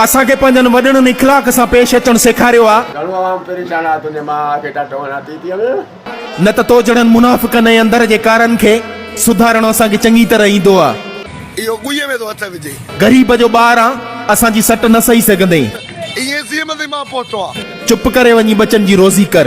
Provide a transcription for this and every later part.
اسان کي پنهنجن وڏڙن اخلاق سان پيش اچڻ سيکاريو آ. نه ته تو جهڙن منافقن ۽ اندر جي ڪارن کي سڌارڻو اسان کي چڱي طرح ايندو آ. غريب جو ٻار آن، اسان جي سٽ نه سهي سگهندين. چپ ڪري وڃي ٻچن جي روزي ڪر.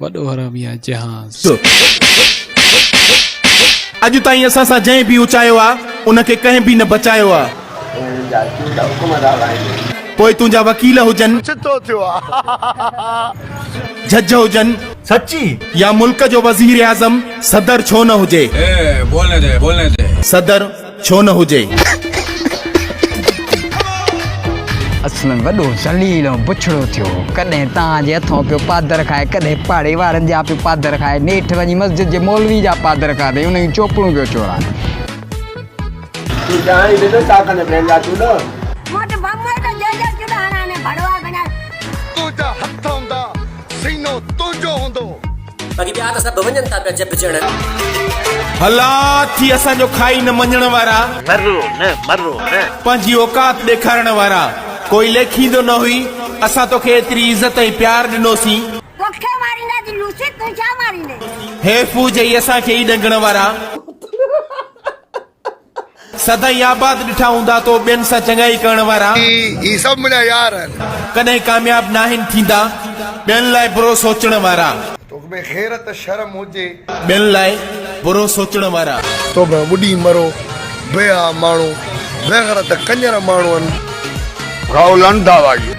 وڏو حرامي آ جهاز. اڄ تائين اسان سان جنهن به اچايو آ ان کي ڪنهن به نه بچايو آ. پوء تنهنجا وڪيل هجن. چتو ٿيو آ. جج هجن. سچي. يا ملڪ جو وزير اعظم صدر ڇو نه هجي. اي بولني دي بولني دي. صدر. ڇو نه هجي. اسلم وڏو ذليل ۽ بڇڙو ٿيو هو. ڪڏهن توهان جي هٿان پيو پادر کائي، ڪڏهن پاڙي وارن جا پيو پادر کائي، نيٺ وڃي مسجد جي مولوي جا پادر کاڌئي، انهن جون چوپڙون پيو چورائي. تون جانئين به نه ڪاڪن جا ڀيل جا چوڏا. سينو تنهنجو هوندو. باقي ٻيا ته سڀ وڃن ٿا پيا جهٻجڻ. هلا ٿي اسان جو کائي نه مڃڻ وارا. مرو نه مرو نه. پنهنجي اوقات ڏيکارڻ وارا. ڪوئي ليکيندو نه هئي. اسان توکي ايتري عزت ۽ پيار ڏنوسين. توکي ماريندا جي لوسي تون ڇا ماريندين. هيفو جئي اسان کي ئي ڏنگڻ وارا. سدائين آباد ڏٺا هوندا تو ٻين سان چڱائي ڪرڻ وارا. هي سڀ منهنجا يار آهن. ڪڏهن ڪامياب ناهن ٿيندا. ٻين لاء برو سوچڻ وارا. توک ۾ غيرت شرم هجي. ٻين لاء برو سوچڻ وارا. تو ۾ ٻڏي مرو بيحا ماڻهو. بيغرت ڪڃر ماڻهو آهن. گائو لنڊ ڌاوا گيت.